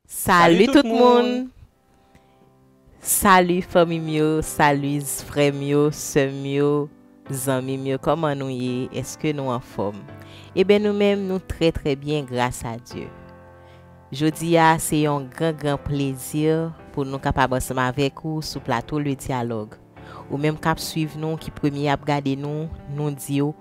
Salut tout moun! Salut fanmi m yo, salut frè m yo, sè m yo, zanmi m yo, kòman nou ye? Eske nou anfòm? Eben nou menm nou trè trè byen gras a Dye. Jodi a se yon gran gran plezi pou nou kapab ansanm avèk ou sou plato Le Dialogue. Ou menm k ap swiv nou, ki premye ap gade nou, nou di w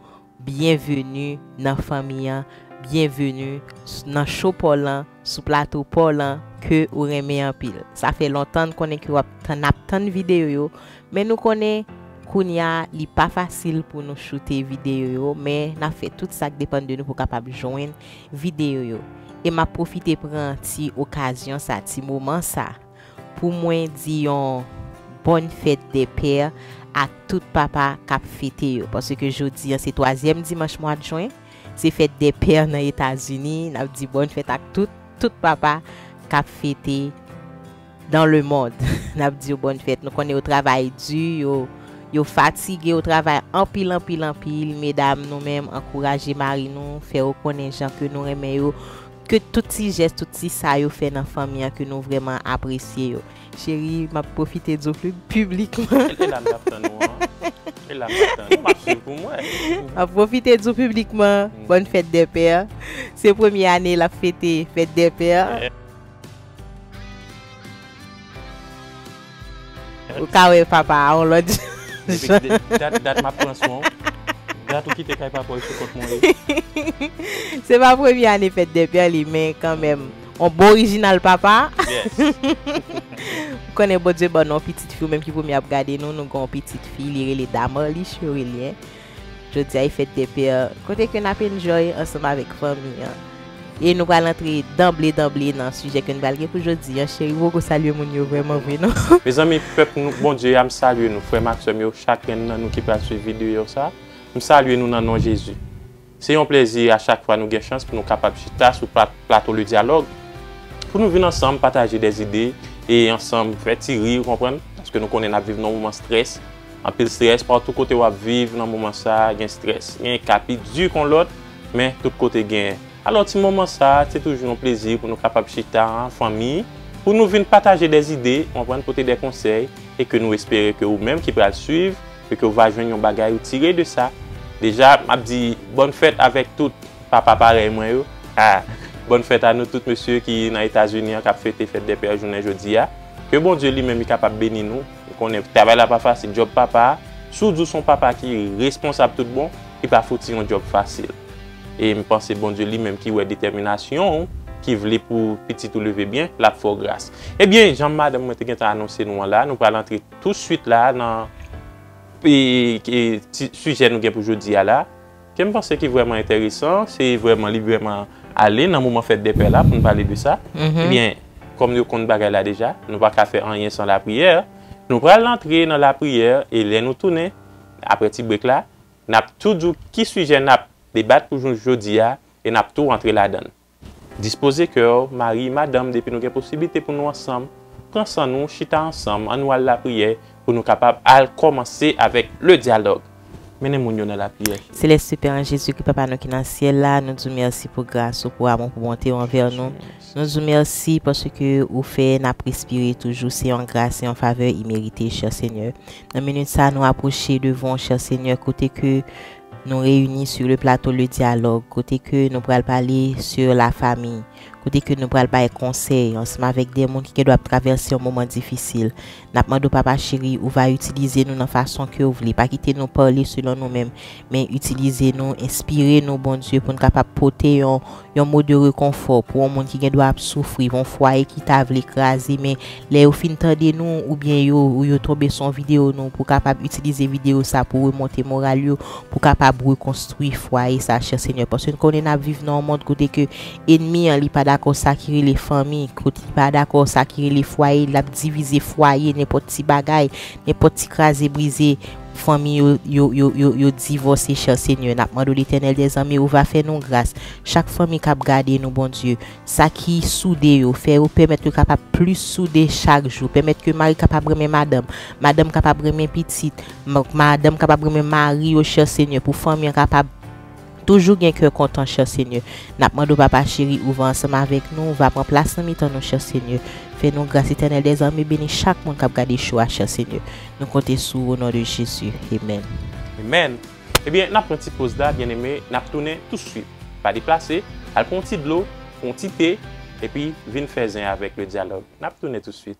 Byenveni nan fanmi an byenveni nan show paw lan sou plato paw lan ke ou renmen anpil sa fè lontan n konnen ke wap tann nap tann video yo men nou konnen kounya li pa fasil pou nou choute video yo men nap fè tout sak depann de nou pou kapab jwenn video yo e map pwofite pran ti okazyon sa ti moman sa Pou mwen di yon Bonne fête des pères a tout papa kap fete yo paske jodi an se twazyèm dimanch mwad jwen se fête des pères nan etazini nap di Bonne fête ak tout tout papa kap fete dans le monde nap di yo Bonne fête nou konnen yo travay di yo yo fatige yo travay anpil anpil anpil medam nou menm ankouraje mari nou fè yo konnen jan ke nou renmen yo. Ke tout ti jès tout ti sa yo fè nan fanmi an ke nou vrèman apresye yo. Cheri map pwofite diw piblikman. E la m tap tann ou an. E la m tap tann ou map swiv poum wè. Map pwofite diw piblikman Bonne fête des pères. Se premye ane lap fete fête des pères. Ou ka wè papa a on lòt jan. Depi dat map pran swen w. Dat ou kite kay papa w e sou kont mwen ye. Se pa premye ane fèt de pè li men kanmenm on bon orijinal papa. M konnen Bondye ban nou on pitit fi ou menm ki premye ap gade nou nou gen on pitit fi li rele Damarlie Cherelien. Jodia e fête des pères kote ke nap enjoy ansanm avèk fanmi an. E nou pral antre danble danble nan sijè ke nou pral gen pou jodi an cheri poko salye moun yo vrèman vre non. Mezanmi pèp nou Bondye ya m salye nou frèm ak sèm yo chakrenn nan nou ki pral swiv videyo sa m salye nou nan non Jezi se yon plèzi a chak fwa nou gen chans pou nou kapab chita sou plato le dyalòg pou nou vin ansanm pataje dè zide e ansanm fè ti ri ou konprann paske nou konnen nap viv nan moman strès. Anpil stress partout kote wap viv nan moman sa gen stress gen ka pi du kon lot men tout kote gen alors ti moman sa se toujou yon plezi pou nou kapab chita an fanmi pou nou vin pataje des idées ou konprann pote des konsèy e ke nou espere ke ou menm ki pral swiv e ke ou va jwenn yon bagay ou tire de sa deja map di bonne fête avek tout papa parèy mwen yo ha bonne fête a nou tout mesye ki nan etazini an kap fete fête des pères jounen jodia ke Bondye li menm li kapab beni nou. Ou konnen travay la pa fasil djòb papa a, si w di w se yon papa ki responsab tout bon, li pa fouti yon djòb fasil. E m panse Bondye li menm ki wè detèminasyon w, ki vle pou pitit ou leve byen, l ap fè w gras. Ebyen, jan madanm mwen te gentan anonse nou an la, nou pral antre tousuit la nan sijè nou gen pou jodi a la. Kem panse ki vrèman entèresan se vrèman li vrèman ale nan moman fèt dèpè la poun pale de sa ebyen kòm nou konn bagay la deja nou paka fè anyen san lapriyè nou pral rantre nan lapriyè e lè nou tounen aprè ti brek la nap tou di w ki sijè nap debat pou jou jodi a e nap tou rantre ladann. Dispoze kè w, mari, madanm depi nou gen posiblite pou nou ansanm, pran san nou, chita ansanm, an nou al lapriyè pou nou kapab al kòmanse avèk le dyalòg. Mennen moun yo nan lapriyè. Selès se Pè an Jezi Kri Papa nou ki nan syèl la, nou di w mèsi pou gras ou, pou amou, pou bonte ou anvè nou. Nou di w mèsi paske ou fè n ap respire toujou, se yon gras, se yon favè imerite, chè Senyè. Nan minit sa a nou apwoche devan w chè Senyè kote ke Nou reyini sur le plateau le dialogue kote ke nou pral pale sur la famille, kote ke nou pral bay konsèy ansanm avèk de moun ki gen dwa ap travèse yon moman difisil. Nap mande w papa cheri ou va itilize nou nan fason ke w vle, pa kite nou pale selon nou menm, men itilize nou, enspire nou Bondye pou n kapab pote yon yon mo de rekonfò pou yon moun ki gendwa ap soufri, yon fwaye ki ta vle kraze men lè yo fin tande nou oubyen yo ou yo tonbe sou yon videyo nou pou kapab itilize videyo sa pou remonte moral yo pou kapab rekonstwi fwaye sa chè Senyè paske n konnen nap viv nan yon mond kote ke enmi an li pa dakò sa ki rele fanmi kot li pa dakò sa ki rele fwaye lap divize fwaye nenpòt ti bagay nenpòt ti kraze brize Fanmi yo yo yo yo yo divose cher seigneur nap mande w letènèl dè zanmi ou va fè nou gras chak fanmi kap gade nou bondye sa ki soude yo fè yo pèmèt yo kapab plis soude chak jou pèmèt ke mari kapab renmen madanm madanm kapab renmen pitit madanm kapab renmen mari yo cher seigneur pou fanmi an kapab Toujou gen kè kontan chè Senyè. Nap mande w papa cheri ou va ansanm avèk nou, va pran plas nan mitan nou chè Senyè. Fè nou gras Etènèl dè zame beni chak moun kap gade show a chè Senyè. Nou konte sou ou o non de Jezi. Amen. Amen. Ebyen nap pran ti poz la byeneme nap tounen tou swit. Pa deplase, al pran yon ti dlo, yon ti te, epi vin fè zen avèk le dyalòg. Nap tounen tou swit.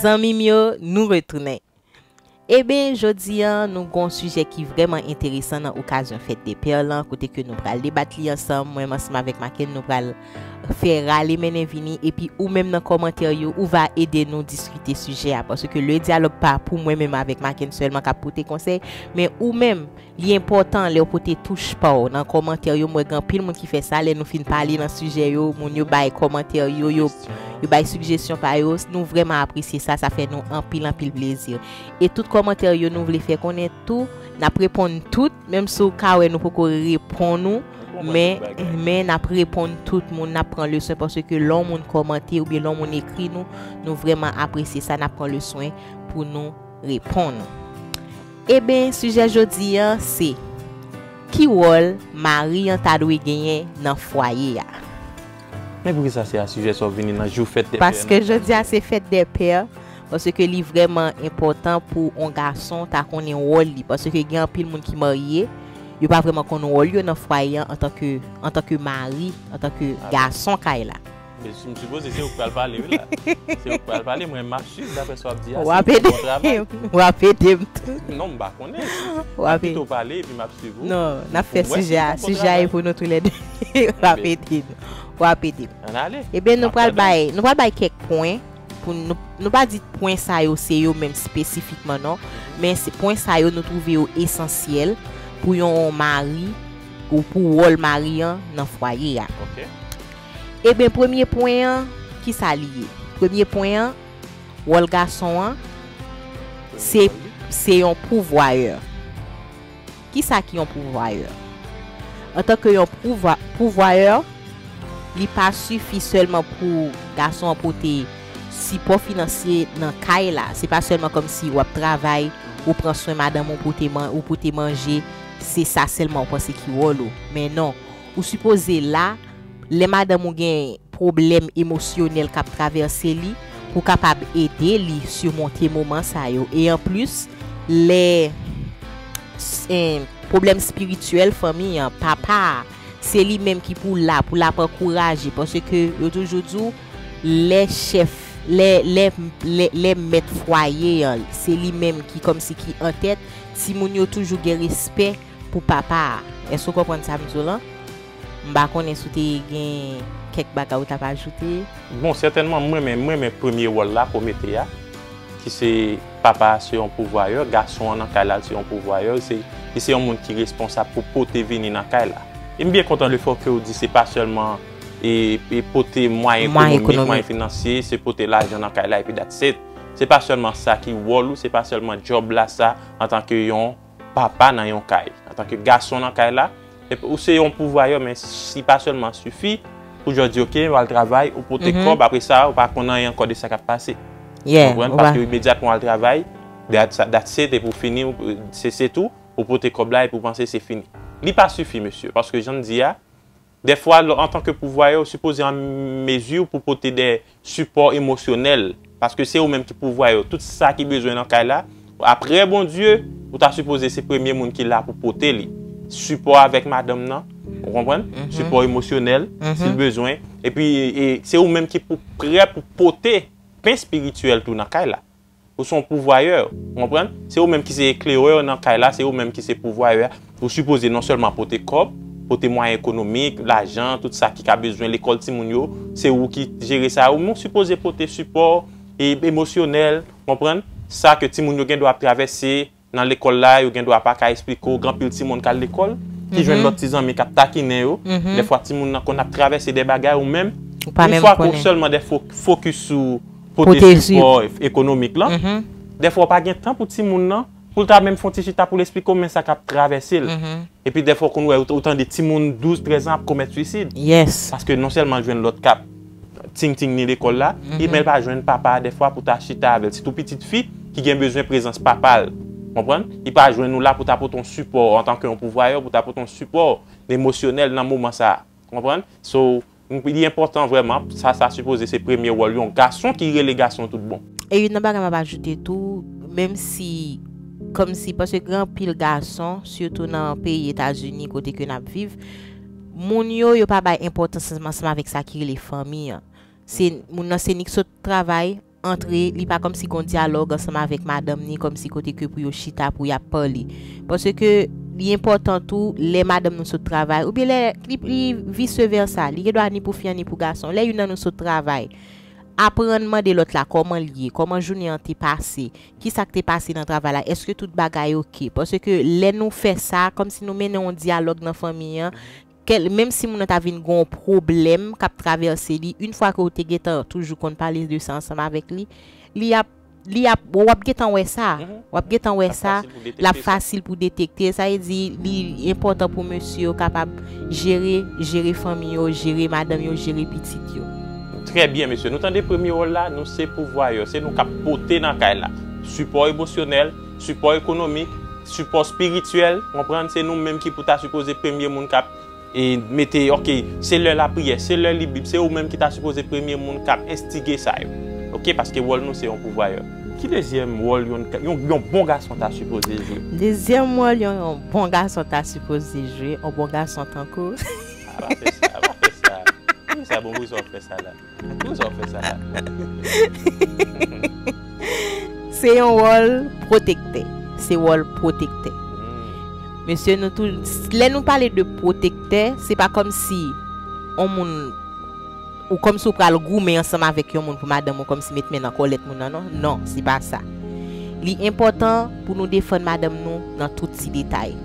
Zanmim yo nou retounen Eben jodi an nou gon sijè ki vrèman enteresan nan okazyon fèt de pè lan kote ke nou pral debat li ansanm mwen ansanm avèk Makenn nou pral fè rale mennen vini epi ou menm nan kòmantè yo ou va ede nou diskite sijè a paske le dyalòg pa pou mwen menm avèk Makenn sèlman kap pote konsèy men ou menm Li enpòtan lèw pote touch paw nan kòmantè yo m wè gen anpil moun ki fè sa lè nou fin pale nan sijè yo moun yo bay kòmantè yo yo bay sigjesyon pa yo nou vrèman apresye sa sa fè nou anpil anpil plezi e tout kòmantè yo nou vle fè konnen tou nap reponn tout menm si w ka wè nou poko reponn ou men men nap reponn tout moun nap pran leswen paske lè yon moun kòmante oubyen lè yon moun ekri nou nou vrèman apresye sa nap pran leswen pou nou reponn ou. Eben sijè jodi an se, Ki wòl mari an ta dwe genyen nan fwaye a? Men poukisa se a sijè sa w vini nan jou fèt dè pè an? Paske jodi a se fèt dè pè, paske li vrèman enpòtan pou on gason ta konnen wòl li, paske gen anpil moun ki marye, yo pa vrèman konn wòl yo nan fwaye an antanke mari, antanke gason kay la. M sipoze se ou k pral pale wi la. Se ou k pral pale mwen map swiv daprè sa wap di a. Wap ede m. Wap ede m tou. Non m pa konnen. Map pito pale epi map swiv ou. Non nap fè sijè a. Sijè a e pou nou tou lè 2. Wap ede m. Wap ede m. An ale. Ebyen nou pral bay nou pral bay kèk pwen pou nou nou pa di pwen sa yo se yo menm spesifikman non. Men se pwen sa yo nou twouve yo esansyèl pou yon mari ou pou wòl mari an nan fwaye a. Ok. Eben premye pwen an ki sa li ye? Premye pwen an, wòl gason an se se yon pouvwayè. Ki sa ki yon pouvwayè? Antan ke yon pouvwayè, li pa sifi sèlman pou gason an pote sipò finansye nan kay la. Se pa sèlman kòm si wap travay, ou pran swen madanm ou, ou pote manje, se sa sèlman ou panse ki wòl ou. Men non, ou sipoze la. Lè madanm ou gen pwoblèm emosyonèl k ap travèse li, ou kapab ede li simonte moman sa yo. E anplis, lè se pwoblèm espirityèl fanmi an, papa a, se li menm ki pou la pou l ap ankouraje paske yo toujou di w lè chèf, lè mèt fwaye an se li menm ki kòmsi ki antèt, timoun yo toujou gen respè pou papa a. Èske w konprann sa m di w lan? M pa konnen si w te gen kèk bagay ou t ap ajoute? Bon sètènman m renmen m renmen premye wòl la ke w mete a ki se papa a se yon pouvwayè gason an nan kay la li se yon pouvwayè li se li se yon moun ki responsab pou pote vini nan kay la e m byen kontan le fè ke w di se pa sèlman e e pote mwayen ekonomik mwayen finansye se pote lajan nan kay la epi that's it se pa sèlman sa ki wòl ou se pa sèlman djòb la sa antanke yon. Papa nan yon kay, antanke gason nan kay la, ep ou se yon pouvwayè men si pa sèlman sifi pou jò di ok wal travay ou pote kòb apre sa ou pa konn anyen ankò de sa kap pase. Ou konprann? Paske imedyatman wal travay dat se depi ou fini se se tou ou pote kòb la epi ou panse se fini. Li pa sifi mesye paske janm di a. Dèfwa lè w antanke pouvwaye ou sipoze an mezi pou pote de sipò emosyonèl paske se ou menm ki pouvwaye yo tout sa ki bezwen nan kay la aprè Bondye ou ta sipoze se premye moun ki la pou pote li sipò avèk madanm nan ou konprann sipò emosyonèl si l bezwen epi se ou menm ki pou prè pou pote pen espirityèl tou nan kay la. Ou se yon pouvwayè. Ou konprann? Se ou menm ki se eklerè nan kay la, se ou menm ki se pouvwayè a. Ou sipoze non sèlman pote kòb, pote mwayen ekonomik, lajan, tout sa ki ka bezwen lekòl timoun yo. Se ou ki jere sa yo. Men ou sipoze pote sipò e emosyonèl, ou konprann, sa ke timoun yo gen dwa ap travèse, Nan lekòl la, yo gen dwa pa ka esplike w. Gen anpil timoun k al lekòl, ki jwenn lòt ti zanmi k ap takinen yo. Dèfwa timoun nan konn ap travèse dè bagay ou menm, yon fwa ke w sèlman dè fokis sou pote sipò ekonomik lan. Dèfwa w pa gen tan pou timoun nan, pou l ta menm fè yon ti chita pou l esplike w men sa k ap travèse l. Epi dèfwa w konn wè, ou tande timoun 12, 13 an ap komèt swisid. Paske non sèlman l jwenn lòt k ap. Ting ting ni lekòl la, men l pa jwenn papa a dèfwa pou ta chita avè l. Sitou pitit fi ki gen bezwen prezans papa l. Ou konprann? Li pa jwenn ou la pou ta pote yon sipò antanke yon pouvwayè, pou ta pote yon sipò emosyonèl nan moman sa a. Ou konprann? So, li enpòtan vrèman, sa sa sipoze se premye wòl yon gason ki rele gason tout bon. E youn nan bagay m ap ajoute tou, menm si, kòmsi, paske gen anpil gason, sitou nan peyi Etazini kote ke n ap viv, Moun yo, yo pa bay enpòtans ansanm avèk sa ki rele fanmi an. Se, moun nan se ni k sot travay, antre, li pa kòmsi gon dyalòg ansanm avèk madanm ni kòmsi kote ke pou yo chita pou y ap pale. Paske, li enpòtan tou, lè madanm nou sot travay, oubyen lè, li, li vice versa, li gen dwa ni pou fi an ni pou gason, lè youn nan nou sot travay, aprann mande lòt la kòman l ye, kòman jounen an te pase, ki sa k te pase nan travay la, èske tout bagay ok. Paske lè nou fè sa, kòm si nou mennen yon dyalòg nan fanmi an, kè, menm si moun nan ta vin gen yon pwoblèm k ap travèse li, in fwa ke ou te gen tan toujou konn pale de sa ansanm avèk li, li ap, li ap, w ap gen tan wè sa, w ap gen tan wè sa, l ap fasil pou detekte sa. L ap fasil pou detekte, sa vle di li enpòtan pou mesye yo kapab. Jere, jere fanmi yo, jere madanm yo, jere pitit yo. Trè byen mesye, nou tande premye wòl la, nou se pouvwayè, se nou kap pote nan kay la, sipò emosyonèl, sipò ekonomik, sipò spirityèl, konprann, se nou menm ki pou ta sipoze premye moun kap, mete, ok, se lè lapriyè, se lè li bib, se ou menm ki ta sipoze premye moun kap enstige sa yo, ok, paske wòl nou se yon pouvwayè. Ki dezyèm wòl yon yon bon gason ta sipoze jwe? Dezyèm wòl yon yon bon gason ta sipoze jwe, yon bon gason tankou. A pa fè sa, a pa fè sa. Pou sa bon pou kisa wap fè sa la? Pou kisa wap fè sa la? Se yon wòl pwotektè, se wòl pwotektè. Mesye nou tou, lè nou pale de pwotektè, se pa kòmsi yon moun. Ou kòmsi ou pral goumen ansanm avèk yon moun pou madanm ou kòmsi met men nan kòlèt moun nan non, non se pa sa. Li enpòtan pou nou defann madanm nou nan tout ti detay.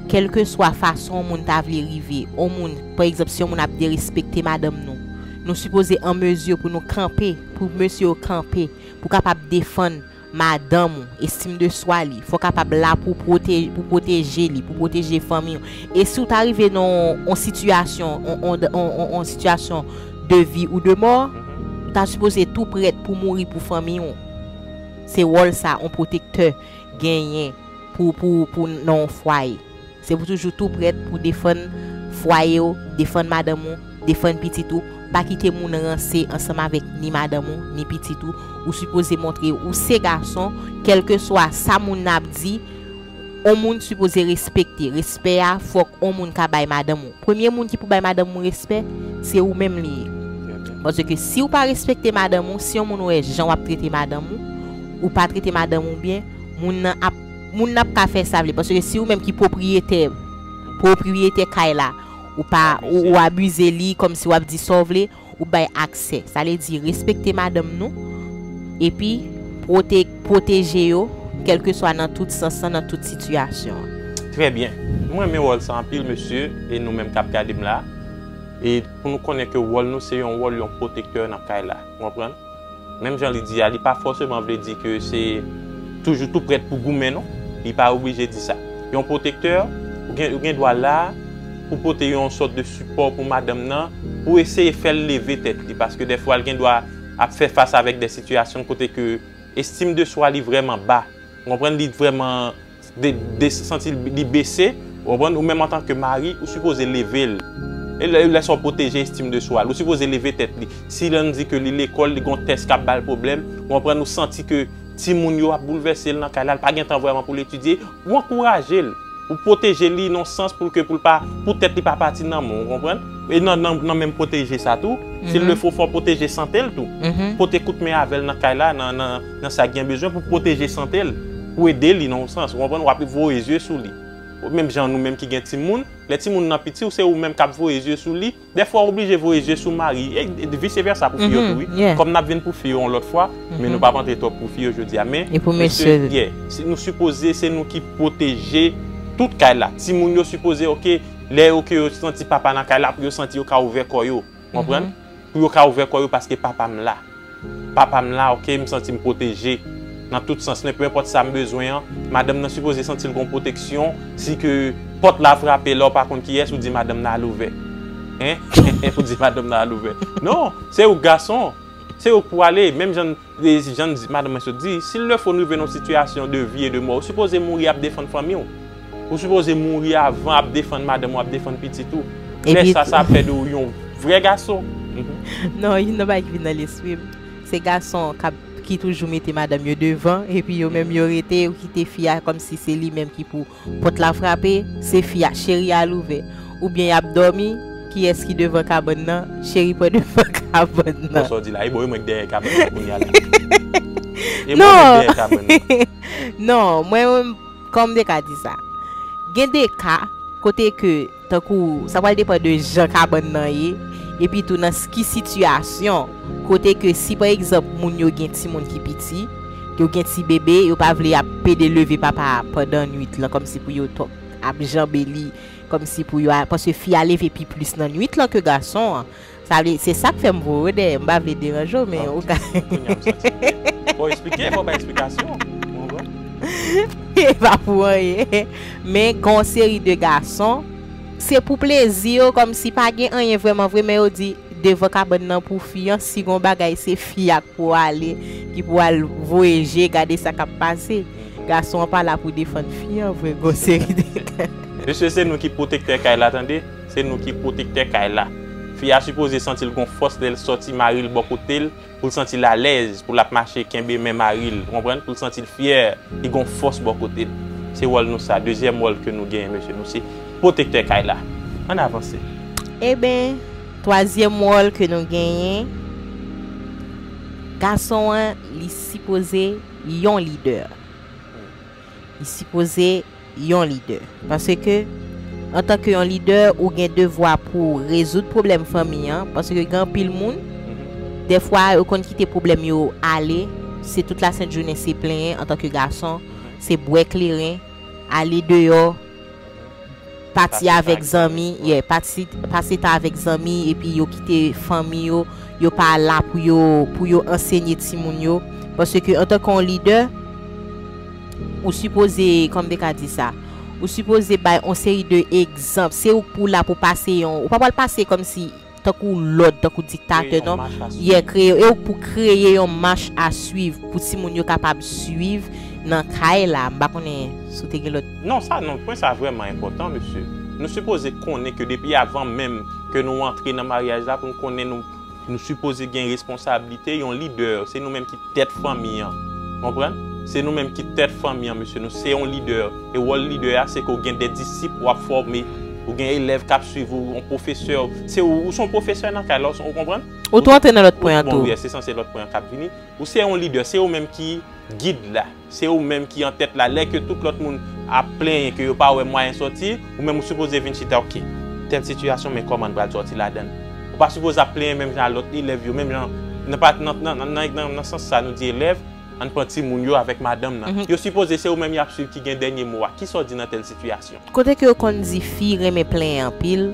Kèlkeswa fason on moun ta vle rive on moun, pa egzanp si on moun ap derespekte madanm nou, nou sipoze an mezi pou nou kanpe, pou mesye yo kanpe pou kapab defann madanm ou, estime de soi li, fò kapab la pou pou pwoteje li, pou pwoteje fanmi ou. E si ou ta rive nan yon sitiyasyon, yon sitiyasyon de vi ou de mò, ou ta sipoze tou prèt pou mouri pou fanmi ou. Se wòl sa yon pwotektè genyen pou nan yon fwaye. Se pou toujou tou prèt pou defann fwaye w, defann madanm ou, defann pitit ou. Pa kite moun ranse ansanm avèk ni madanm ou, ni pitit ou. Ou sipoze montre ou se gason, kèlkeswa sa moun nan ap di, on moun sipoze respekte. Respè a, fòk on moun ka bay madanm ou. Premye moun ki pou bay madanm ou respè, se ou menm li ye. Paske si ou pa respekte madanm ou, si on moun wè jan w ap trete madanm ou, ou pa trete madanm ou byen, moun nan ap. Moun nan ap ka fè sa vle paske si ou menm ki pwopriyetè pwopriyetè kay la ou pa ou abize li kòmsi wap di sa w vle ou bay aksè sa vle di respekte madanm nou epi pwote pwoteje yo kèlkeswa nan tout sans lan nan tout sitiyasyon. Trè byen. M renmen wòl sa anpil mesye e nou menm kap gade m la e pou nou konnen ke wòl nou se yon wòl yon pwotektè nan kay la ou konprann? Menm jan li di a, li pa fòseman vle di ke se toujou tou prèt pou goumen non. Li pa oblije di sa. Yon pwotektè, ou gen, ou gen dwa la pou pote yon sòt de sipò pou madanm nan, pou eseye fè l leve tèt li, paske dèfwa l gen dwa ap fè fas avèk dè sitiyasyon kote ke estim de swa li vrèman ba. Ou konprann? Li vrèman. santi li bese, ou konprann, ou menm antan ke mari, ou sipoze leve l. E lè sa w pwoteje estim de swa l. Ou sipoze leve tèt li. Si lè nou di ke li lekòl, li gen yon tès k ap ba l pwoblèm, ou konprann, ou santi ke timoun yo ap boulvèse l nan kay la, li pa gen tan vrèman pou l etidye, ou ankouraje l. Ou pwoteje li nan yon sans pou l ke pou l pa, pou tèt li pa pati nan men w, ou konprann. E nan menm pwoteje sa tou, si l le fo, fò w pwoteje sante l tou. Pote kout men avè l nan kay la, nan. nan sa gen bezwen pou pwoteje sante l, pou ede li nan yon sans, ou konprann, w ap voye zye sou li. Menm jan nou menm ki gen timoun, lè timoun nan piti w se ou menm k ap voye zye sou li, dèfwa w oblije voye zye sou mari, e vise vèsa pou fi yo tou wi, kòm n ap vin pou fi yo yon lòt fwa, men nou p ap antre twòp pou fi yo jodi a, men mesye, yè, nou sipoze se nou ki pwoteje tout kay la, timoun yo sipoze ok, lè yo ke yo santi papa nan kay la pou yo santi yo ka ouvè kò yo, w konprann. pou yo ka ouvè kò yo paske papa m la. Papa m la ok, m santi m pwoteje nan tout sans men peu enpòt sa m bezwen an, madanm nan sipoze santi l gon pwoteksyon si ke pòt la frape lè w pa konn kiyès ou di madanm nan al ouvè hein ou di madanm nan al ouvè non se ou k gason se ou k pou ale menm jan E jan madanm mwen sot di, si lè fò n rive nan yon sitiyasyon de vi e de mò, ou sipoze mouri ap defann fanmi w. Ou sipoze mouri avan ap defann madanm ou, ap defann pitit ou. Lè sa, sa ap fè de ou yon vrè gason. Non, youn nan bagay ki vin nan lespri m, se gason k ap, ki toujou mete madanm yo devan, epi yo menm yo rete, yo kite fi a kòmsi se li menm ki pou Pòt la frape, se fi a, Cheri al ouvè. Oubyen yap dòmi, Kiyès ki devan kabann nan, Cheri pran devan kabann nan. Bon sa w di la, e bon e mwen k dèyè kabann nan kounya la. E mwen mwen k dèyè kabann nan. Non, mwen menm, kòman m te ka di sa? Gen de ka kote ke. Tankou, sa pral depan de jan kabann nan ye, epi tou nan s ki sitiyasyon, kote ke si pa egzanp moun yo gen timoun ki piti, yo gen ti bebe, yo pa vle ap pede leve papa a pandan nwit lan kòmsi pou yo to ap janbe li, kòmsi pou yo a, paske fi a leve pi plis nan nwit lan ke gason an. Sa vle, se sak fèm voye w dèyè, m pa vle deranje w men ou ka. Ok, kounya m santi m byen. Bon esplike, fò w bay esplikasyon. Bon bon. E pa pou anyen. Men gen yon seri de gason, se pou plezi yo kòmsi pa gen anyen vrèman vre men yo di devan kabann nan pou fi an si gen yon bagay se fi a k pou ale, ki pou al voye je gade sa k ap pase. Gason an pa la pou defann fi an vre gen yon seri de. Mesye se nou ki pwotektè kay la tande. Se nou ki pwotektè kay la. Fi a sipoze santi l gon fòs lè l sòti mari l bò kote l, pou l santi l alèz, pou l ap mache kenbe men mari l, ou konprann, pou l santi l fyè, li gon fòs bò kote l. Se wòl nou sa, dezyèm wòl ke nou genyen mesye, nou se pwotektè kay la. Ann avanse. Eben, twazyèm wòl ke nou genyen, gason an li sipoze yon lidè. Li sipoze yon lidè. Paske, antan ke yon lidè, ou gen devwa pou w rezoud pwoblèm fanmi an. Paske gen anpil moun, dèfwa yo konn kite pwoblèm yo ale, se tout lasent jounen se plenyen antan ke gason, se bwè kleren, ale deyò. Pati avèk zanmi, yeah, pati, pase tan avèk zanmi epi yo kite fanmi yo, yo pa la pou yo, pou yo ansenye timoun yo, paske antanke yon lidè, ou sipoze, kòman m te ka di sa, ou sipoze bay yon seri de egzanp, se ou k pou w la pou w pase yon, ou pa pral pase kòmsi. tankou lòd, tankou diktatè non, yeah kreye yon, e ou pou kreye yon mach a swiv pou timoun yo kapab swiv nan kay la, m pa konnen si w te gen lòt. Non sa non, pwen sa vrèman enpòtan mesye. Nou sipoze konnen ke depi avan menm ke nou antre nan maryaj la pou nou konnen nou sipoze gen responsablite, yon lidè se nou menm ki. tèt fanmi an. Konprann? Se nou menm ki tèt fanmi an mesye, nou se yon lidè e wòl lidè a se ke ou gen de disip wap fòme, ou gen elèv kap swiv ou, yon pwofesè, se ou son pwofesè nan kay la, ou konprann? Ou tou antre nan lòt pwen an tou. Bon wi, se sanse lòt pwen an kap vini. Ou se yon lidè, se ou menm ki gid la. Se ou menm ki an tèt la lè ke tout lòt moun ap plenyen ke yo pa wè mwayen sòti, ou menm ou sipoze vin chita ok tèl sitiyasyon men kòman n pral sòti ladann. Ou pa sipoze ap plenyen menm jan a lòt elèv yo, menm jan nan pa nan nan sans sa nou di elèv, ann pran timoun yo avèk madanm nan. Yo sipoze se ou menm y ap swiv ki gen dènye mo a, kisa w di nan tèl sitiyasyon? Kote ke yo konn di fi renmen plenyen anpil,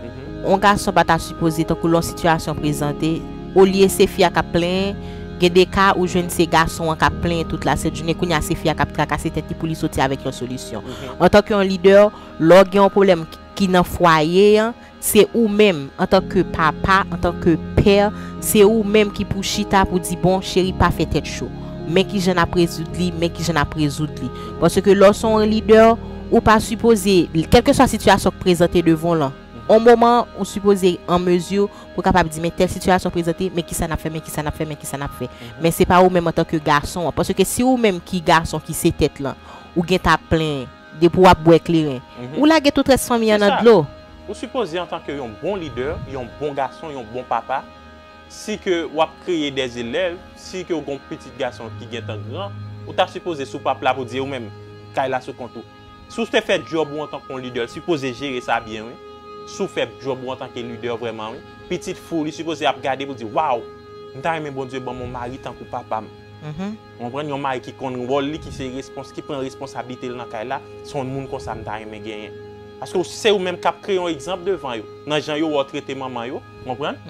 on gason pa ta sipoze tankou lè on sitiyasyon prezante, olye se fi a k'ap plenyen, gen de ka ou jwenn se gason an k'ap plenyen tout la sent jounen, kounya se fi a k'ap trakase tèt li pou li soti avèk yon solisyon. Antan ke on lidè, lè w gen on pwoblèm ki nan fwaye an, Se ou menm, antan ke papa, antan ke pè, se ou menm ki pou chita pou di bon, cheri pa fè tèt cho. Men kijan nap rezoud li, men kijan nap rezoud li. Paske lè w se yon lidè, ou pa sipoze, kèlkeswa sitiyasyon k prezante devan w lan, yon moman ou sipoze an mezi pou w kapab di men tèl sitiyasyon prezante, men kisa nap fè, men kisa nap fè, men kisa nap fè. Men se pa ou menm antan ke gason an. Paske se ou menm ki gason ki se tèt lan, ou gentan ap plenyen. Depi w ap bwè kleren. Ou lage tout rès fanmi an nan dlo. Ou sipoze antanke yon bon lidè, yon bon gason, yon bon papa, si ke w ap kreye dè elèv, si ke w gen yon pitit gason ki gen tan gran, ou ta sipoze sou pap la pou di ou menm, kay la sou kont ou. Si w te fè djòb ou antanke yon lidè, l sipoze jere sa byen wi. Si w fè djòb ou antanke lidè vrèman wi. Pitit fi w li sipoze ap gade pou di, waw! M ta renmen Bondye ban m yon mari tankou papa m. Ou konprann yon mari ki konn wòl li ki se respons ki pran responsablitel nan kay la se yon moun konsa m ta renmen genyen paske w se ou menm kap kreye yon egzanp devan yo nan jan yo wè w trete manman yo ou konprann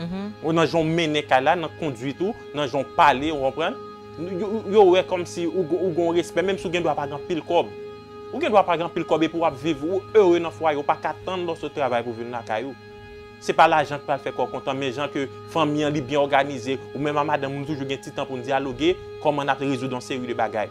nan jan w mennen kay la nan konduit ou nan jan w pale ou konprann yo wè kòmsi ou gen yon respè menm si w gen dwa pa gen anpil kòb ou gen dwa pa gen anpil kòb epi wap viv ou ere nan fwaye ou paka tann lè w sot travay pou vin lakay ou. Se pa lajan ki pral fè kè w kontan, men jan ke fanmi an li byen òganize, ou menm a madanm ou nou toujou gen ti tan pou n dyaloge, kòman n ap rezoud yon seri de bagay.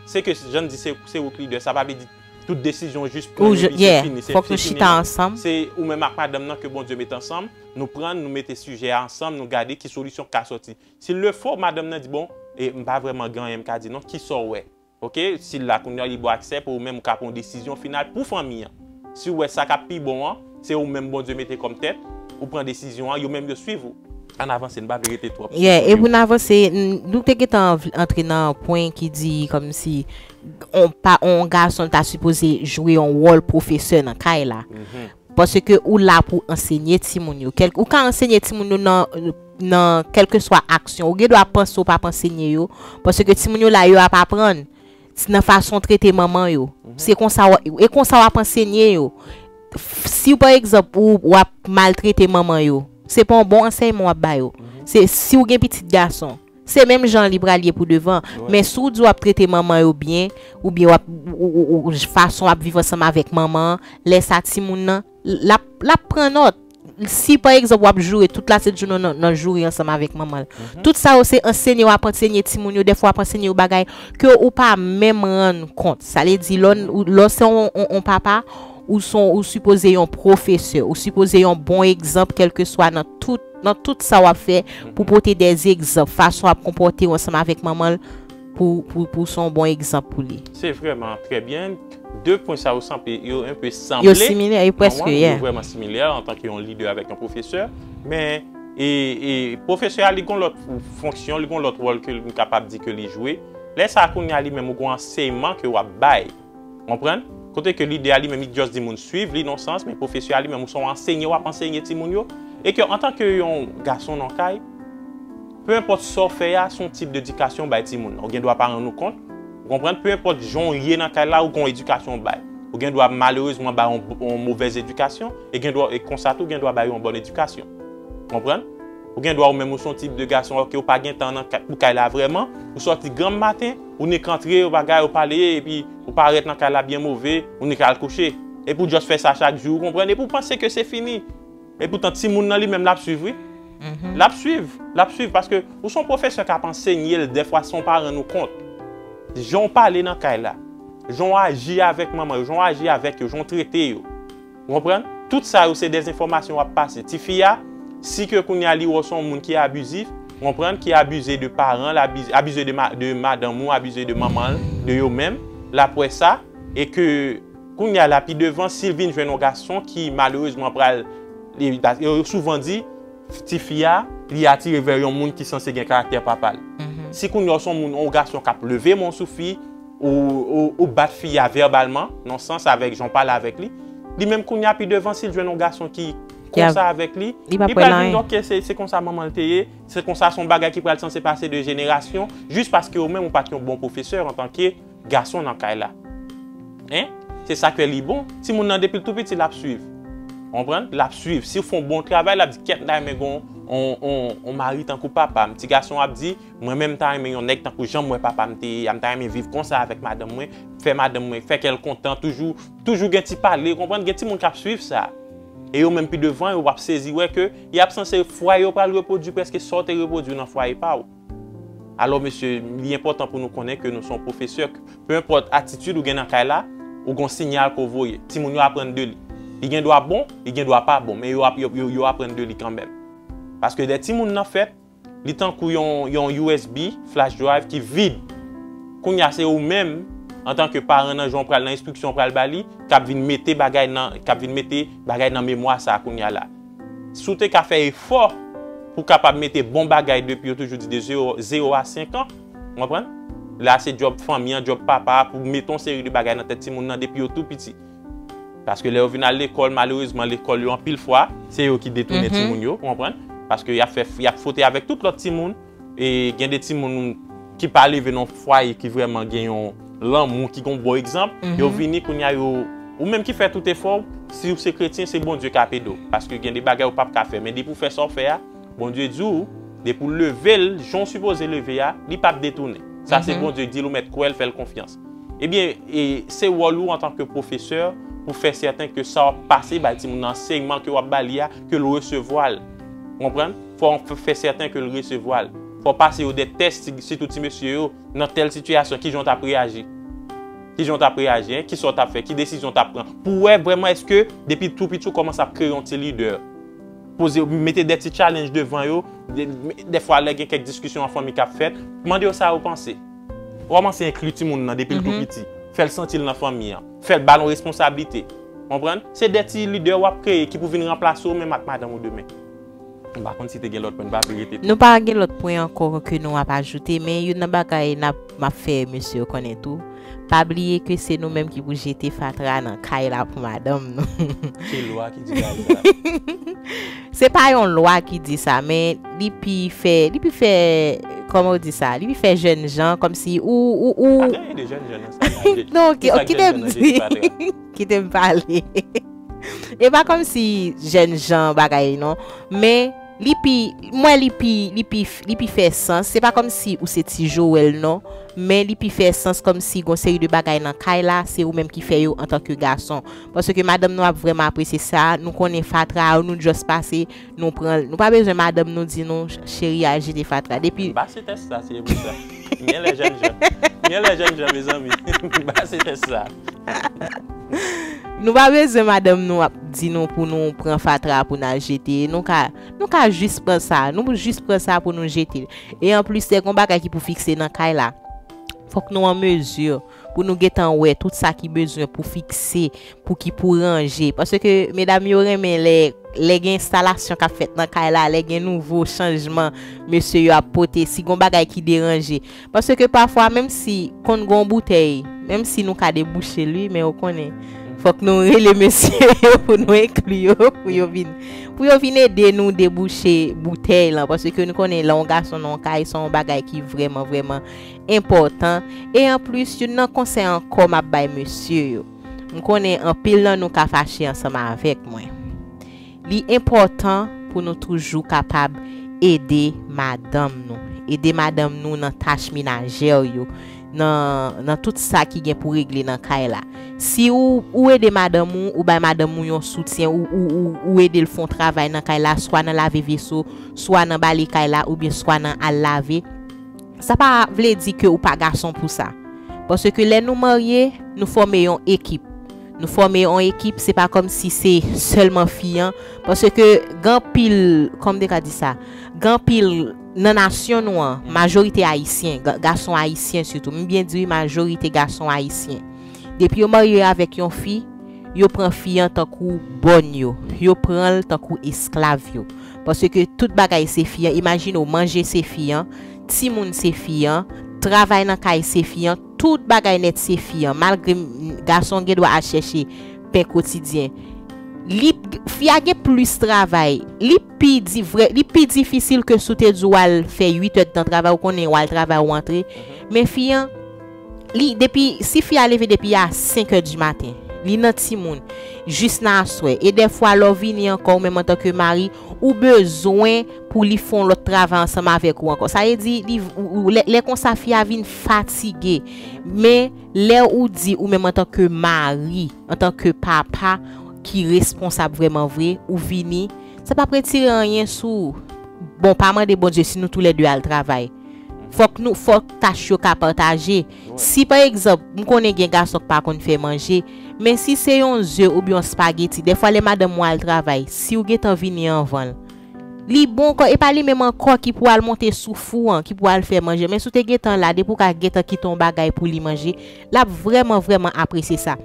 Se ke, jan n di, se se ou ki lidè, sa pa vle di tout desizyon ou jis pran yo li se fini, se fini non. Se ou menm ak madanm nan ke Bondye met ansanm, nou pran n, nou mete sijè a ansanm, nou gade ki solisyon ki ka sòti. S'il le faut, madanm nan di bon, e m pa vrèman gen anyen m ka di non, kisa w wè? Ok, si l la kounye a, li ba w aksè pou ou menm ou ka pran yon desizyon final pou fanmi an. Si ou wè sa k ap pi bon an, se ou menm Bondye mete kòm tèt, ou pran desizyon an, yo menm yo swiv ou. Ann avanse, n pa vle rete twòp sou Yeah, e pou n avanse, nou te gentan antre nan pwen ki di kòmsi yon pa yon gason ta sipoze jwe yon wòl pwofesè nan kay la. Paske ou la pou ansenye timoun yo. Ou ka ansenye timoun yo nan nan kèlkeswa aksyon. Ou gen dwa panse ou p ap ansenye yo. Paske timoun yo la yo ap aprann. Nan fason w trete manman yo. Se konsa w e konsa w ap ansenye yo. Si pa egzanp ou w ap maltrete manman yo. Se pa yon bon ansèyman w ap ba yo. Se si w gen pitit gason. Se menm jan li pral ye pou devan. Men si w di w ap trete manman yo byen, oubyen w ap, fason w ap viv ansanm avèk manman an, lè sa timoun nan, l ap, l ap pran nòt. Si pa egzanp w ap joure tout lasentjounen w nan joure ansanm avèk manman l. Tout sa yo se ansenye w ap ansenye timoun yo, dèfwa w ap ansenye yo bagay ke ou pa menm rann kont. Sa vle di lò, lè w se yon papa, ou sipoze yon pwofesè, ou sipoze yon bon egzanp kèlkeswa nan tout. Nan tout sa wap fè pou pote de egzanp fason wap konpòtew ansanm avèk manmanl pou pou son bon egzanp pou li. Se vrèman trè byen, de pwen sa yo sanble yo un peu sanble. Yo similè wi preske yeah. Yo vrèman similè antanke yon lidè avèk yon pwofesè men e e pwofesè a li gon lòt fonksyon li gon lòt wòl ke li kapab di ke li jwe lè sa kounye a li menm ou gon anseyman ke wap bay. Konprann? Kote ke lidè a li menm li just di moun swiv li non sans, men pwofesè a li menm ou se yon ansenye wap ansenye timoun yo, e ke antan ke yon gason nan kay, peu enpòt sa w fè a se yon tip de edikasyon w bay timoun nan, ou gen dwa pa rann ou kont, ou konprann, peu enpòt jan w ye nan kay la ou gen yon edikasyon w bay, ou gen dwa malerezman bay yon movèz edikasyon, e gen dwa e konsa tou gen dwa bay yon bòn edikasyon. Konprann? Ou gen dwa ou menm ou se yon tip de gason ok ou pa gen tan nan pou kay la vrèman, ou sòti granm maten, Ou nik antre yon bagay ou pale epi ou parèt nan kay la byen move, ou nik al kouche. Epi ou just fè sa chak jou ou konprann epi ou panse ke se fini. Epoutan timoun nan li menm lap swiv wi. Lap swiv, lap swiv paske ou son pwofesè kap ansenye l dèfwa san w pa rann ou kont. Jan w pale nan kay la, jan w aji avèk manman yo, jan w aji avèk yo, jan w trete yo. Ou konprann? Tout sa yo se des enfòmasyon wap pase. Ti fi a, si ke kounye a li wè w se yon moun ki abizif, ou konprann, ki abize de paran l, abize de madanm ou, abize de manman l, de yo menm, lap wè sa, e ke kounye a la pi devan, si l vin jwenn yon gason ki malerezman pral, yo souvan di, ti fi a, li atire vè yon moun ki sanse gen karaktè papa l. Si kounye a w se yon moun, yon gason kap leve men w sou fi, Ou bat fi a verbalman, nan sans avèk jan w pale avèk li. Li menm kounya pi devan si l jwenn yon gason ki konsa avèk li, li pral vin ok se konsa manman l te ye, se konsa se yon bagay ki pral sanse pase de jenerasyon jis paske ou menm ou pa t yon bon pwofesè antanke gason nan kay la. Hein? Se sa k fè li bon. Timoun nan depi l tou piti l ap suiv. Ou konprann? L ap suiv. Si w fè yon bon travay l ap di kèt m ta renmen gen yon mari tankou papa m. Ti gason an ap di Mwen menm m ta renmen yon nèg tankou janm wè papam te ye a, m ta renmen viv konsa avèk madanm mwen, fè madanm mwen, fè kèl kontan, toujou, toujou gen ti pale, konprann, gen timoun kap swiv sa. E yo menm pi devan yo wap sezi wè ke y ap sanse fwaye yo pral repwodui prèske sa w te repwodui nan fwaye pa w. Alò mesye, li enpòtan pou nou konnen ke nou se yon pwofesè, ke pe enpòt atitid ou gen nan kay la, ou gen yon sinyal ke w voye. Timoun yo aprann de li. Li gen dwa bon, li gen dwa pa bon, men yo ap, yo, yo aprann de li kanmenm. Paske lè timoun nan fèt. Li tankou yon usb, flash drive, ki vid. Kounye a se ou menm, antanke paran nan jan ou pral nan enstriksyon ou pral ba li, k ap vin mete bagay nan, k ap vin mete bagay nan memwa sa a kounye a la. Si w te ka fè efò pou w kapab mete bon bagay depi yo toujou di de zewo a senk an, ou konprann? La se djòb fanmi an, djòb papa a pou mete yon seri de bagay nan tèt timoun nan depi yo tou piti. Paske lè yo vin al lekòl, malerezman lekòl yo anpil fwa, se yo ki detounen timoun yo, ou konprann? Paske y ap fè, y ap fwote avèk tout lòt timoun. E gen de timoun ki pa leve nan yon fwaye ki vrèman gen yon lanmou, ki gen yon bon egzanp, yo vini kounye a yo, ou menm ki fè tout efò w, si w se kretyen, se Bondye k ap ede w. Paske gen de bagay ou p ap ka fè. Men depi w fè sa w fè a, Bondye di w, depi w leve l jan w sipoze leve a, li p ap detounen. Sa se Bondye k di l, ou mèt kwè l, fè l konfyans. Ebyen, se wòl ou antan ke pwofesè pou fè sèten ke sa w ap pase bay timoun nan, ansèyman ke w ap ba li a, ke l resevwa l. Ou konprann? Fò w fè sèten ke l resevwa l. Fò w pase yo de tès, sitou ti mesye yo, nan tèl sitiyasyon, kijan w t ap reyaji? Kijan w t ap reyaji? Kisa w t ap fè? Ki desizyon w t ap pran? Pou wè vrèman èske depi tou piti ou kòmanse ap kreye yon ti lidè. Poze yo, mete de ti tchalenj devan yo, dèfwa lè gen kèk diskisyon an fanmi k ap fèt, mande yo sa yo panse. Kòmanse enkli timoun nan depi l tou piti. Fè l santi l nan fanmi an. Fè l ba l yon responsablite. Konprann? Se de ti lidè w ap kreye ki pou vin ranplase ou menm ak madanm ou demen. M pa konn si te gen lòt pwen, m pa vle rete twòp. Nou pa gen lòt pwen ankò ke nou ap ajoute, men youn nan bagay n ap, m ap fè mesye yo konnen tou, pa bliye ke se nou menm ki pou jete fatra nan kay la pou madanm nou. Ki lwa ki di bagay sa a? Se pa yon lwa ki di sa men li pi fè li pi fè kòman yo di sa li pi fè jèn jan kòm si ou ou ou Pa gen anyen de jèn jan nan sa la je non ki sak jèn jan nan jezi pa tra kitem pale e pa kòm si jèn jan bagay non men li pi m wè li pi li pi li pi fè sans se pa kòm si ou se ti Joel non men li pi fè sans kòm si gon seri de bagay nan kay la se ou menm ki fè yo antanke gason. Paske madanm nou ap vrèman apresye sa, nou konnen fatra a nou just pase nou pran l. Nou pa bezwen madanm nou di nou cheri al jete fatra. Depi. Ba se tès sa se pou sa. Genlè jèn jan. Genlè jèn jan mezanmi. Ba se tès sa. Nou pa bezwen madanm nou ap di nou pou nou pran fatra a pou n al jete. Nou ka nou ka jis pran sa. Nou pou jis pran sa pou nou jete l. E anplis lè gen yon bagay ki pou fikse nan kay la. Fòk nou an mezi. pou nou gentan wè tout sa ki bezwen pou fikse, pou ki pou ranje. Paske medam yo renmen lè lè gen enstalasyon k ap fèt nan kay la, lè gen nouvo chanjman mesye yo ap pote, si gon bagay ki deranje. Paske pafwa menm si konn gon boutèy, menm si nou ka debouche l wi, men ou konnen fòk nou rele mesye yo pou nou enkli yo pou yo vin pou yo vin ede nou debouche boutèy lan. Paske nou konnen lè yon gason nan yon kay se yon bagay ki vrèman vrèman. enpòtan e anplis youn nan konsèy ankò map bay mesye yo, m konnen anpil nan nou ka fache ansanm avèk mwen, li enpòtan pou nou toujou kapab ede madanm nou, ede madanm nou nan tach menajè yo, nan nan tout sa ki gen pou regle nan kay la, si ou ou ede madanm ou, ou bay madanm ou yon soutyen ou ou ou ou ede l fè yon travay nan kay la swa nan lave veso, swa nan bale kay la oubyen swa nan al lave. Sa pa vle di ke ou pa gason pou sa. Paske lè nou marye, nou fòme yon ekip. Nou fòme yon ekip, se pa kòm si se sèlman fi an. Paske gen anpil, kòman m te ka di sa? Gen anpil, nan nasyon nou an, majorite Ayisyen, gason Ayisyen sitou, m byen di wi majorite gason Ayisyen, depi yo marye avèk yon fi, yo pran fi an tankou bòn yo. Yo pran l tankou esklav yo. Paske tout bagay se fi an, imajine w manje se fi an, timoun se fi an, travay nan kay se fi an, tout bagay nèt se fi an. Malgre gason an gen dwa al chèche pen kotidyen, li, fi a gen plis travay. Li pi di vrè, li pi difisil ke si w te di w al fè 8 èdtan travay, ou konnen w al travay ou antre. Men fi an. Li depi si fi a leve depi a 5 è di maten, li nan timoun jis nan aswè e dèfwa lè w vini ankò ou menm antanke mari ou bezwen pou li fè yon lòt travay ansanm avèk ou ankò sa vle di li lè konsa fi a vin fatige men lè ou di ou menm antanke mari antanke papa ki responsab vrèman vre ou vini sa pap retire anyen sou bon pa mande Bondye si nou tou lè 2 al travay. Fòk nou, fòk tach yo ka pataje. Si pa egzanp, m konnen gen gason k pa konn fè manje, men si se yon ze oubyen yon spageti, dèfwa lè madanm mwen al travay, si ou gentan vini anvan l, li bon ankò, e pa li menm ankò ki pou al monte sou fou an, ki pou al fè manje, men si w te gentan la, depi ou ka gentan kite yon bagay pou li manje, l ap vrèman, vrèman apresye sa.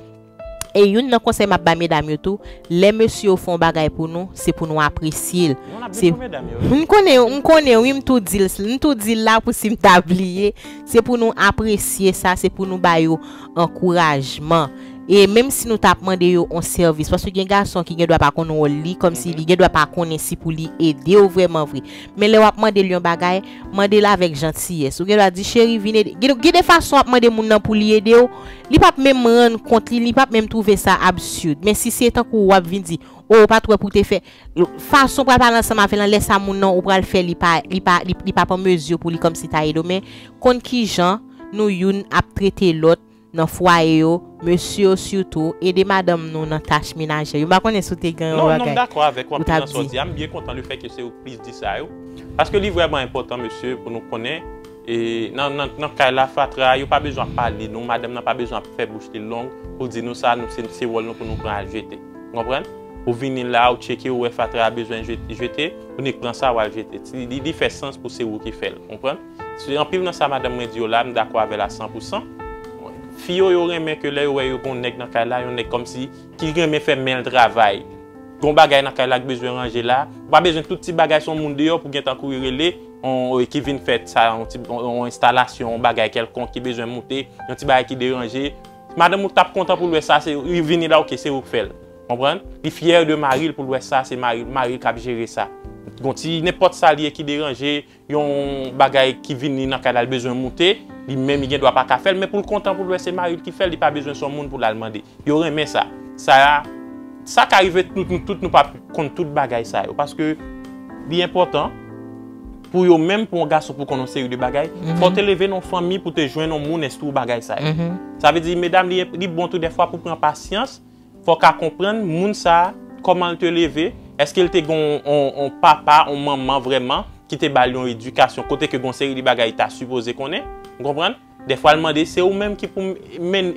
E youn nan konsèy map bay medam yo tou, lè mesye yo fè yon bagay pou nou, se pou nou apresye l, se m konnen m konnen wi m tou di l m tou di l la pou si m ta bliye, se pou nou apresye sa, se pou nou ba yo ankourajman, e menm si nou tap mande yo yon sèvis, paske gen gason ki gen dwa pa konn wòl li, kòmsi li gen dwa pa konnen si pou li ede w vrèman vre, men lè wap mande l yon bagay. Mande l avèk jantiyès. Ou gen dwa di, Cheri, vin ede. Gide, gen de fason w ap mande moun nan pou li ede w, li p ap menm rann kont li, li p ap menm twouve sa absurd. Men si se tankou w ap vin di, O, ou pa t wè pou w te fè. Fason w pral pale ansanm avè l lan, lè sa moun nan, ou pral fè li pa, li pa, li p ap an mezi pou li kòmsi ta ede w. Men, konn kijan nou youn ap trete lòt. nan fwaye yo mesye yo sitou ede madanm nou nan tach menajè yo m pa konnen si w te gen yon bagay ou t ap di. Non non m dakò avèk ou anpil nan sa w di a m byen kontan lefè ke se ou k plis di sa yo paske li vrèman enpòtan mesye pou nou konnen e nan nan kay la fatra yo pa bezwen ap pale nou madanm nan pa bezwen ap fè bouch li long pou l di nou sa nou se wòl nou pou nou pran al jete ou konprann ou vini la ou tcheke ou wè fatra a bezwen jete ou nik pran sa w al jete li fè sans pou se ou ki fè l ou konprann. Sou anpil nan sa madanm mwen di yo la, m dakò avè l a san pou san. Fi yo, yo renmen ke lè yo wè yo gen yon nèg nan kay la, yon nèg kòmsi ki renmen fè men l travay. Gen yon bagay nan kay la ki bezwen ranje la, ou pa bezwen tout ti bagay son moun deyò pou gentan kouri rele yon ki vin fè sa, yon ti yon enstalasyon, yon bagay kèlkonk ki bezwen moute, yon ti bagay ki deranje. Madanm ou t ap kontan pou l wè sa se li vini la ok se ou k fè l. Konprann? Li fyè de mari l pou l wè sa se mari l, mari l k ap jere sa. Gon ti nenpòt sa li ye ki deranje, Yon bagay ki vini nan kay la li bezwen moute, li menm li gen dwa pa ka fè l, men pou l kontan pou l wè se mari l ki fè l, li pa bezwen son moun pou l al mande. Yo renmen sa. Sa a, sa ka rive nou tout nou pa konn tout bagay sa yo paske li enpòtan pou yo menm pou yon gason pou konn yon seri de bagay, fò w te leve nan yon fanmi pou w te jwenn yon moun enstwi w bagay sa yo. Sa vle di medam li bon tou dèfwa pou w pran pasyans. Fò ka konprann moun sa a, kòman l te leve, èske l te gen yon papa, yon manman vrèman ki te ba l yon edikasyon kote ke gen yon seri de bagay li ta sipoze konnen. Ou konprann? Dèfwa l mande, se ou menm ki pou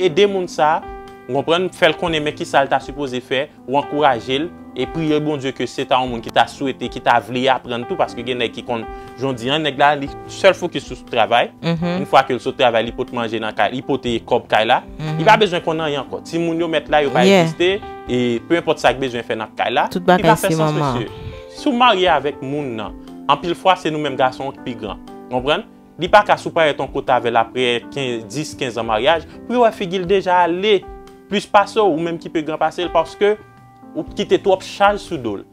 ede moun sa a, ou konprann, fè l konnen men kisa l ta sipoze fè, ou ankouraje l. E priye Bondye ke se ta yon moun ki ta swete, ki ta vle aprann tou, paske gen nèg ki konn, jan w di an, nèg la li sèl fokis sou travay, yon fwa ke l sot travay li pot manje nan kay, li pote kòb kay la, li pa bezwen konn anyen ankò, timoun yo mèt la yo pa egziste, e pe enpòt sa k bezwen fè nan kay la, li pa fè sans mesye. Si w marye avèk moun nan, anpil fwa se nou menm gason yo k pi gran, ou konprann, li pa ka si w pa ret yon kote avè l aprè 10, 15 an maryaj, pou yo wè figi l deja ale plis pase w, ou menm ki pi gran pase l, paske. Ou kite twòp chaj sou do l.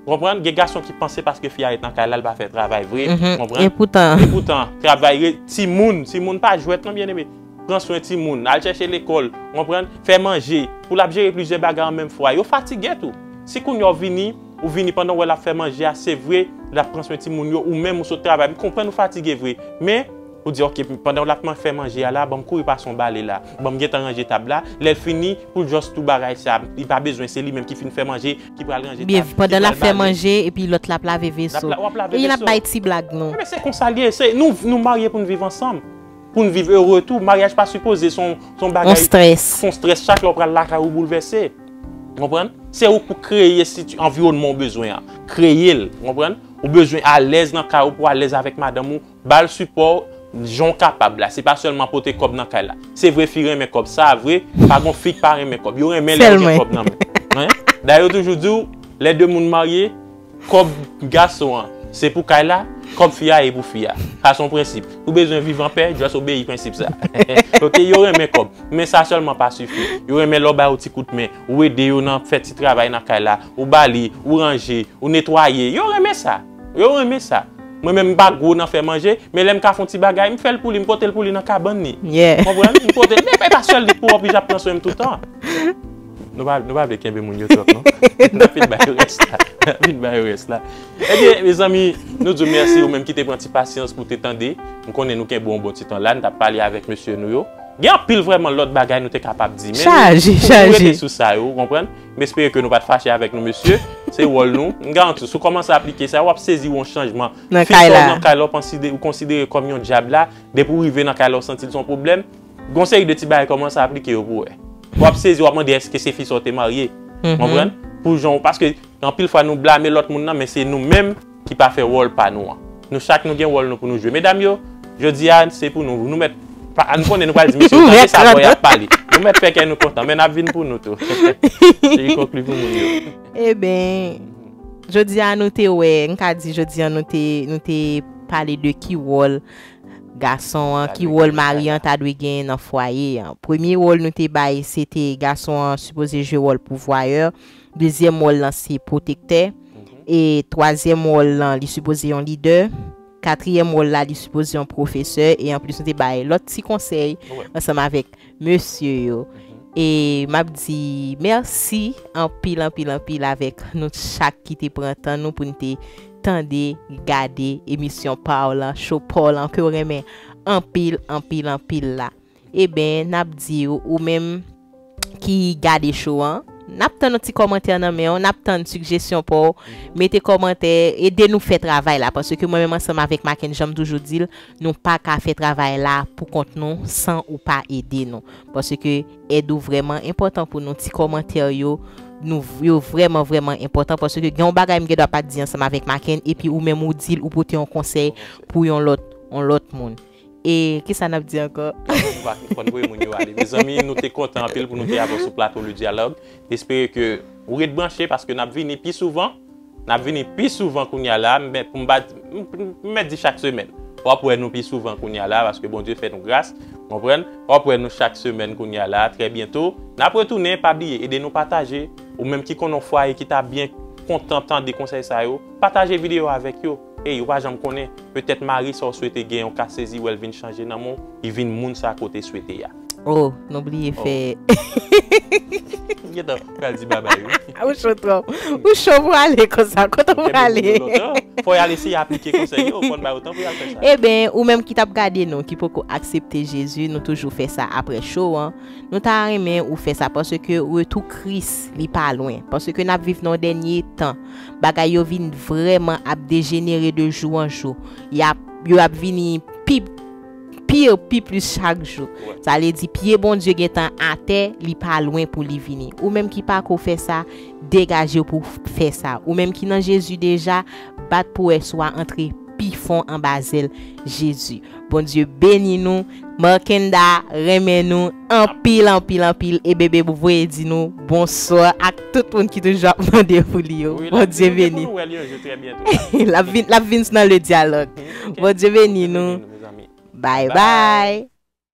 Ou konprann? Gen gason ki panse paske fi a ret nan kay la, l pa fè travay vre. Ou konprann? Epoutan. Epoutan, travay re, timoun, timoun pa jwèt non byeneme. Pran swen timoun, al chèche lekòl, ou konprann, fè manje, pou l ap jere plizyè bagay an menm fwa. Yo fatige tou. Si kounye a w vini, ou vini pandan w wè l ap fè manje a, se vre, l ap pran swen timoun yo, ou menm ou sot travay, m konprann ou fatige vre. Men. Ou di ok pandan w lap man fè manje a la banm kouri pase yon bale la banm gentan ranje tab la lèl fini poul just tou bagay sa li pa bezwen se li menm ki fin fè manje ki pral ranje tab ki pandan lap fè manje epi lòt la ap lave veso eyi nap bay ti blag nou. Ebyen se konsa l ye se nou nou marye pou n viv ansanm pou n viv ere tou maryaj pa sipoze son son bagay son strès chak lè w pral lakay ou boulvèse ou konprann se ou k pou kreye siti anviwònman w bezwen an kreye l ou konprann ou bezwen alèz nan kay ou pou alèz avèk madanm ou. Bal sipò jan w kapab la, se pa sèlman pote kòb nan kay la. Se vre fi renmen kòb, sa vre, pa gon fi k pa renmen kòb, yo renmen lè yo gen kòb nan men. Dayè yo toujou di w, lè 2 moun marye, kòb gason an se pou kay la, kòb fi a e pou fi a. Sa son prensip. Ou bezwen viv an pè, just obeyi prensip sa. Ok, yo renmen kòb, men sa sèlman pa sifi. Yo renmen lè w ba yo ti kout men, ou ede yo nan fè ti travay nan kay la, ou ba li, ou ranje, ou netwaye, yo renmen sa. Yo renmen sa. Mwen menm m pa gwo nan fè manje, men lè m ka fon ti bagay, m fè l pou li, m pote l pou li nan kabann li. Yeah. Konprann? M pote l, men e pa sèl li k pou oblige ap pran swen m tout tan. Nou pa, nou pa vle kenbe moun yo twòp non. N ap vin ba yo rès la. N ap vin ba yo rès la. Ebyen, mezanmi, nou di w mèsi ou menm ki te pran ti pasyans pou w te tande. M konnen nou kenbe w yon bon ti tan la, n t ap pale avèk mesye nou yo. Gen anpil vrèman lòt bagay nou te kapab di, men nou, Chaje, chaje. nou rete sou sa yo, ou konprann? M espere ke nou pat fache avèk nou mesye, se wòl nou. M garanti w, si w kòmanse aplike sa, w ap sezi wè yon chanjman. Fi sa w nan kay la, ou konsidere kòm yon dyab la, depi w rive nan kay la, w santi l se yon pwoblèm. Gen yon seri de ti bagay, kòmanse aplike yo pou w wè. W ap sezi, w ap mande èske se fi sa w te marye. Konprann? Pou jan w, paske anpil fwa nou blame lòt moun nan, men se nou menm. ki pa fè wòl pa nou an. Nou chak nou gen wòl nou pou nou jwe. Medam yo, jodi a se pou nou, nou mèt, nou konnen nou pral di mesye yo tande sa bòy ap pale. Nou mèt fè kè nou kontan, men nap vin pou nou tou. Cherie konkli pou moun yo. Eben, jodi a nou te wè, m ka di jodi a nou te, nou te pale de ki wòl gason an, ki wòl mari an ta dwe genyen nan fwaye an. Premye wòl nou te bay se te gason an sipoze jwe wòl pouvwayè, Dezyèm wòl lan se pwotektè. E twazyèm wòl lan li sipoze yon lidè. Katriyèm wòl la li sipoze yon pwofesè. E anplis nou te bay lòt ti konsèy ansanm avèk mesye yo. E m ap di mèsi anpil anpil anpil avèk nou chak ki te pran tan nou pou n te tande, gade emisyon pa w lan, show pa w lan ke w renmen anpil anpil anpil la. Eben nap diw ou menm ki gade show an nap tann yon ti kòmantè nan menw nap tann sigjesyon paw mete kòmantè ede nou fè travay la paske mwen menm ansanm avèk Makenn janm toujou dil nou paka fè travay la pou kont nou san ou pa ede nou paske èd ou vrèman enpòtan pou nou ti kòmantè yo nou yo vrèman vrèman enpòtan paske gen yon bagay m gendwa pat di ansanm avèk Makenn epi ou menm ou dil ou pote yon konsèy pou yon lòt yon lòt moun. E kisa nap di ankò? Kanaval pa tou fòn vre moun yo ale. Mezanmi nou te kontan anpil pou nou te avèw sou plato Le Dialogue. Espere ke ou ret branche paske nap vini pi souvan. Nap vini pi souvan kounya la men pou m pa di m mèt di chak semèn. Wap wè nou pi souvan kounya la paske Bondye fè nou gras. Konprann? Wap wè nou chak semèn kounya la trè byento. Nap retounen pa bliye ede nou pataje. Ou menm ki konnen yon fwaye ki ta byen kontan tande konsèy sa yo, pataje videyo avèk yo. Ey ou pa janm konnen, petèt mari sa w swete gen yon ka sezi wè l vin chanje nan men w, li vin moun sa ke w te swete a. Oh nou bliye fè Ou gentan pral di babay wi. Ou cho twòp. Ou cho pou ale konsa. Kote w prale? Ou kenbe moun yo lontan. Fò y al eseye aplike konsèy yo, fò n ba yo tan pou y al fè sa. Eben, ou menm ki t ap gade nou ki poko aksepte Jezi, nou toujou fè sa aprè show an, nou ta renmen ou fè sa paske retou Kris li pa lwen, paske n ap viv nan dènye tan. bagay yo vin vrèman ap dejenere de jou an jou. Y ap, yo ap vini pi pire, pi plis chak jou. Sa vle di, pye Bondye gen tan atè, li pa lwen pou li vini. Ou menm ki pa ko fè sa, degaje w pou w fè sa. Ou menm ki nan Jezi deja, bat pwès ou a antre pi fon anba zèl Jezi. Bondye beni nou! Markenda renmen nou anpil anpil anpil e bebe pou voye di nou bonswa ak tout moun ki toujou ap mande pou li yo bondye beni lap vin lap vin nan le dyalòg bondye beni nou bye bye.